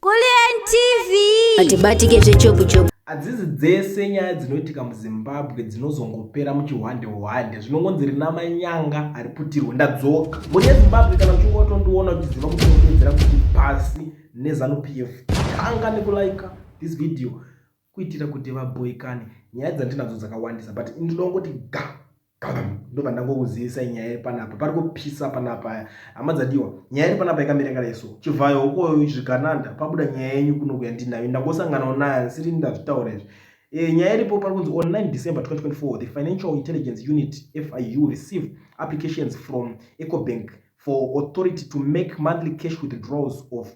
Kulliant TV hatibatike zvechopu chopu. Hadzizi dzese nyaya dzinoitika muZimbabwe dzinozongopera muchihwande hwande zvinongonzi rina manyanga hariputirwe ndadzoka mhuri yeZimbabwe kana uchingotondiona uchiziva kuti unopedzera kuti pasi neZanu PF tanga nekulaika this video kuitira kuti vabhoikane nyaya dzandinadzo dzakawandisa but ndinongoti ga ndobva ndangokuzivisa nyaya iri panapa pari kupisa panapa aya hama dzadiwa nyaya iri panapa yakamira yakadai so chivhayo ukoyo zvigananda pabuda nyaya yenyu kuno kuya ndinayo ndangosanganawo nayo asiri ndazvitaura izvi e, nyaya iripo pari kunzi on 9 december 2024 the financial intelligence unit fiu received applications from ecobank for authority to make monthly cash withdrawals of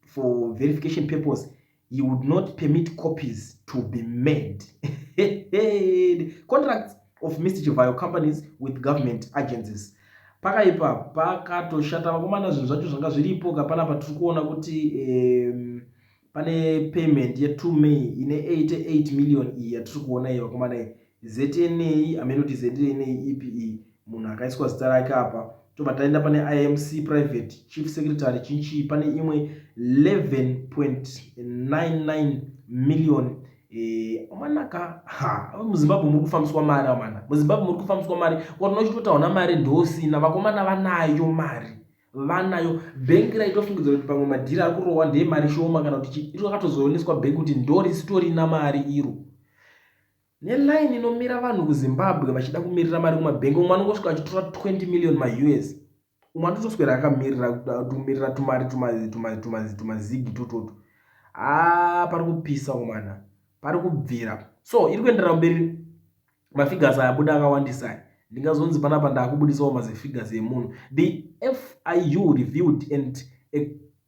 for verification purpose he would not permit copies to be made contracts of mr chivayo companies with government agencies pakaipa pakatoshata vakomana zvinhu zvacho zvanga zviripo kapana patiri kuona kuti um, pane payment ye 2 may ine 88 million iyi yatiri kuona iyi vakomana iyi znei amene kuti znei ipi iyi munhu akaiswa zita rake apa tobva taenda pane imc private chief secretary chinchii pane imwe 11.99 million eh, amanaka ha muzimbabwe muri kufambiswa mari amana muzimbabwe muri kufambiswa mari kwarina uchitotaona mari ndosina vakomana vanayo mari vanayo bhengi raitofungidzira kuti pamwe madhiri ari kurohwa ndeye mari shoma kana kuti chii iro rakatozooneswa bhengi kuti ndorisitorina mari iro Neline inomira vanhu kuZimbabwe vachida kumirira mari kumabhengi umwe anongosvika achitora 20 million maUS umwe atotoswera akamirira kumirira tumari tumazigi tototo haa pari kupisa umana pari kubvira so iri kuenderera mberi mafigures ayabuda akawandisa aya ndingazonzi panapa ndaakubudisawo mazifigas emunhu the fiu reviewed and a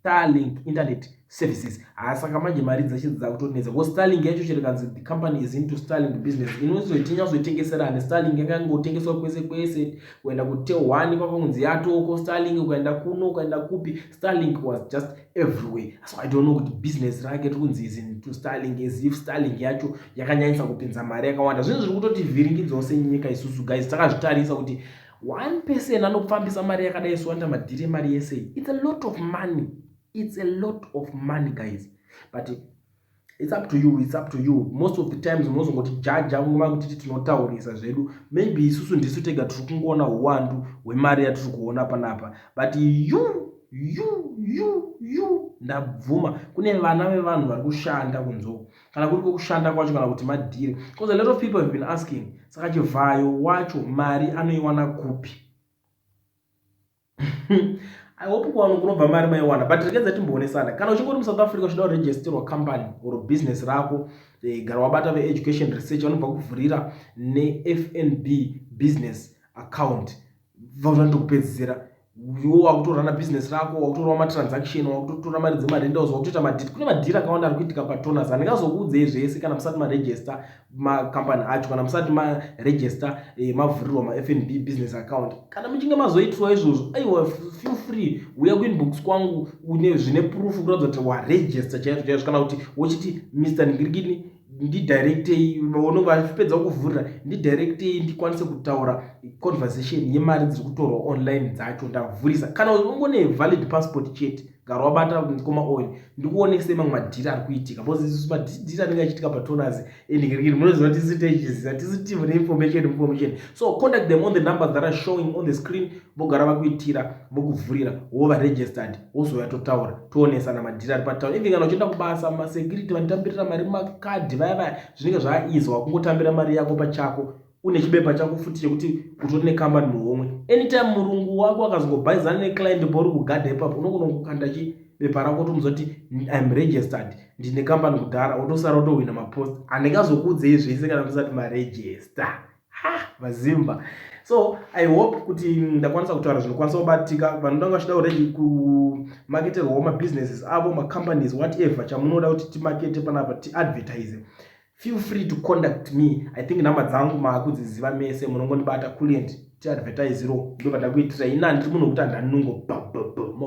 starlink internet services haasaka ah, manje mari dzeshe dzakutonetsa because starlink yacho chirikanzi the company is into starlink business inozoitinyatsoitengeserani starlink yakangotengeswa kwese kwese kuenda kutehwani kwakangonzi yatoko starlink ukaenda kuno ukaenda kupi starlink was just everywhere so i don't know kuti business rake tiri kunzi is into starlink as if starlink yacho yakanyanyisa kupinza mari yakawanda zvinhu zviri kutotivhiringidzao senyika isusu guys takazvitarisa kuti one person anopfambisa mari yakadai swanda madhiri emari yese iyi its a lot of money its a lot of money guys but its up to you its up to you most of the times munozongoti jaja nguva kutiti tinotaurisa zvedu maybe isusu ndisu tega tiri kungoona uwandu hwemari yatiri kuona panapa but you you you you ndabvuma kune vana vevanhu vari kushanda kunzoo kana kuri kwekushanda kwacho kana kuti madhiri bcause a lot of people have been asking saka chivhayo wacho mari anoiwana kupi i hope kuwano kunobva mari maiwana but rekedza timboonesana kana uchingori musouth africa uchida kuregisterwa company or business rako eh, gara wabata veeducation research vanobva kuvhurira nefnb business account bva zva ndokupedzisira iwo wakutorana business rako wakutorawo matransaction wakutotora mari dzemarendals wakutoita madhiri kune madhiri akawanda ari kuitika patoners handingazokuudzei zvese kana musati maregister macompany acho kana musati maregister eh, mavhurirwa mafnb business account kana muchinge mazoitirwa izvozvo aiwa feel free uya kuinbox kwangu une zvine proof kuratidza kuti waregister chaizvo chaizvo kana kuti wochiti mr ningirigini ndidirectei vaonenge vachipedza kuvhurira ndidirectei ndikwanise kutaura conversation yemari dziri kutorwa online dzacho ndavhurisa kana ungone valid passport chete gara wabata mukoma oyo ndikuonesei mamwe madhiri ari kuitika bcause isu madhiri anenge achiitika patonas endikirii munoziva tisi techiziva tisi tive neinformation information so contact them on the numbers that are showing on the screen vogara vakuitira vokuvhurira wova registered wozouya totaura toonesana madhiri ari patown even kana uchienda kubasa masecurity vanotambirira mari makadhi vaya vaya zvinenge zvaizwa wakungotambira mari yako pachako une chibepa chako futi chekuti utori nekambani muhomwe anytime murungu wako akazongobhaizana neclient pauri kugadha ipapo unogona kukanda chi bepa rako tomuzoti im registered ndine kambani kudhara otosara otohwina mapost handikazokuudzei zvese kana musati maregister ha vazimba so i hope kuti ndakwanisa kutaura zvinokwanisa kubatika vanhu ndanga vachida uredi kumaketerwawo mabusinesses avo macompanies whatever chamunoda kuti timakete panapa tiadvertise feel free to conduct me i think nhamba dzangu maakudziziva mese munongondibata kulient tiadvertisiro ndobada kuitira ina ndiri munhu wekuti andanungo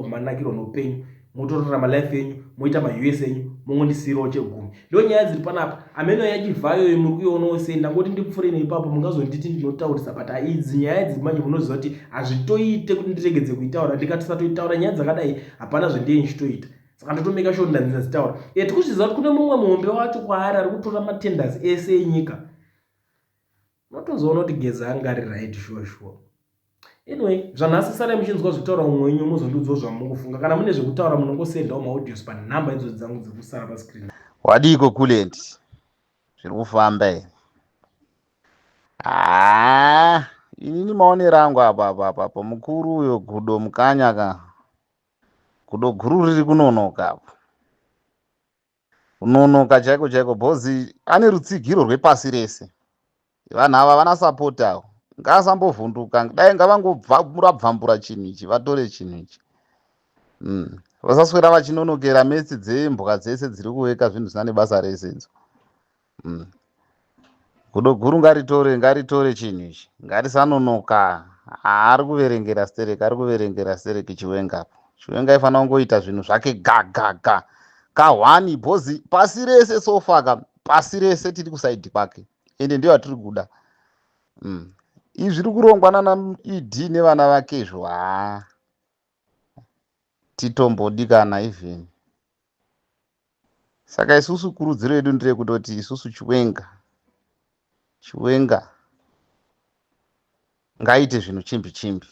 manakiro noupenyu motorarama life yenyu moita maus enyu mongondisiirawo chegumi ndo nyaya dziri panapa ameno yachivhayo yo muri kuionawo sei ndangoti ndipfure neipapo mungazonditi ndinotaurisa but haidzi nyaya idzi manje munoziva kuti hazvitoite kuti ndiregedze kuitaura ndikatisatoitaura nyaya dzakadai hapana zvandiye ndichitoita saka ndotomeka sho ndanzina dzitaura e tikuzviziva kuti kune mumwe muhombe wacho kwaari ari kutora matenders ese enyika Unotozoona kuti Geza anga ari right sure sure. Anyway, zvanhasi sarai muchinzwa zvitaura umwe wenyu muzondiudzawo zvamukufunga. Kana mune zvekutaura munongosendawo maaudios panhamba idzo dzangu dzekusara pascreen. Wadiiko Kulent? Zviri kufamba here? Haa, inini maonero angu apa apa apa apa mukuru uyo gudo mukanya ka. Gudo guru riri kunonoka apo. Kunonoka chaiko chaiko bhozi ane rutsigiro rwepasi rese. Vanhu ava vana support avo. Ngaasambovhunduka dai ngavangobvambura chinhu ichi vatore chinhu ichi. Mm. Vasaswera vachinonokera metsi dzembwa dzese dziri kuveka zvinhu zvisina nebasa rese idzo. Mm. Gudo guru ngaritore ngaritore chinhu ichi ngarisanonoka ari kuverengera stereki ari kuverengera stereki chiwenga apo chiwenga aifanira kungoita zvinhu zvake gagaga kahwani bhozi pasi rese sofaka pasi rese tiri kusaidi kwake ende ndiyo atiri kuda mm. izvi zviri kurongwa nana ed nevana vake izvo haa titombodikana even saka isusu kurudziro yedu ndireyekutoti isusu chiwenga chiwenga ngaite zvinhu chimbi chimbi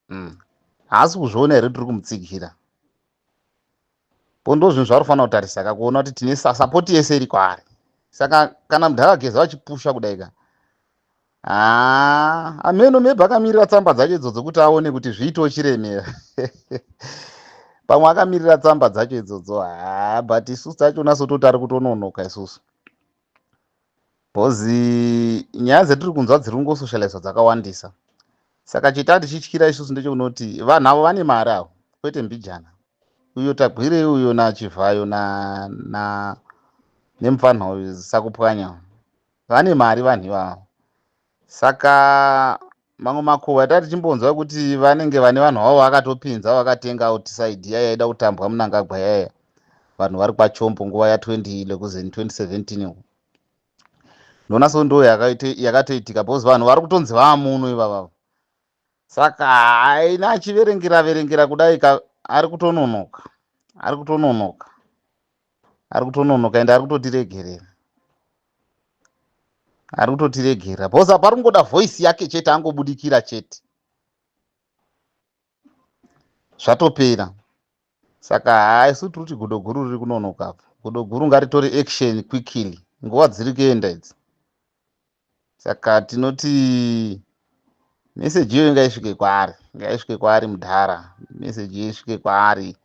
mm. haasi kuzviona here tiri kumutsigira pondo zvinhu zvaari kufanira kutarisa ka kuona kuti tine sapoti yese iri kwaari saka kana mudhara geza vachipusha kudai ka haa ameno maybe akamirira tsamba dzacho idzodzo kuti aone kuti zviitoo chiremera pamwe akamirira tsamba dzacho idzodzo haa but isusu tacho nasototi ari kutononoka isusu bcoz nyaya dzatiri kunzwa dziri kungosocializwa dzakawandisa saka chita tichityira isusu ndechokunoti vanhu avo vane mari avo kwete mbijana uyo tagwirei uyo nachivhayo na, na nemupfanha uyu sakupwanya Vane mari vanhu ivavo. Saka mamwe makuhwa atati tichimbonzwa kuti vanenge vane vanhu vavo vakatopinza vakatenga outside iya yaida kutambwa munangagwa yaya vanhu vari kwachombo nguva ya 20 lekuzen 2017 uku ndona so ndo yakatoitika because vanhu vari kutonzi vamuno ivavavo Saka haina achiverengera verengera kudai ka ari kutononoka. Ari kutononoka. Ari kutononoka ende ari kutotiregerera. Ari kutotiregerera. Boss apa ari kungoda voice yake chete angobudikira chete. Zvatopera. Saka haisu tiri kuti godo guru riri kunonoka apa. Godo guru ngaritore action quickly. Nguva dziri kuenda idzi. saka tinoti meseji iyoyo ngaisvike kwaari ngaisvike kwaari mudhara meseji iyo isvike kwaari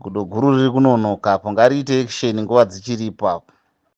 gudo guru riri kunonoka apo ngariite action nguva dzichiripo apo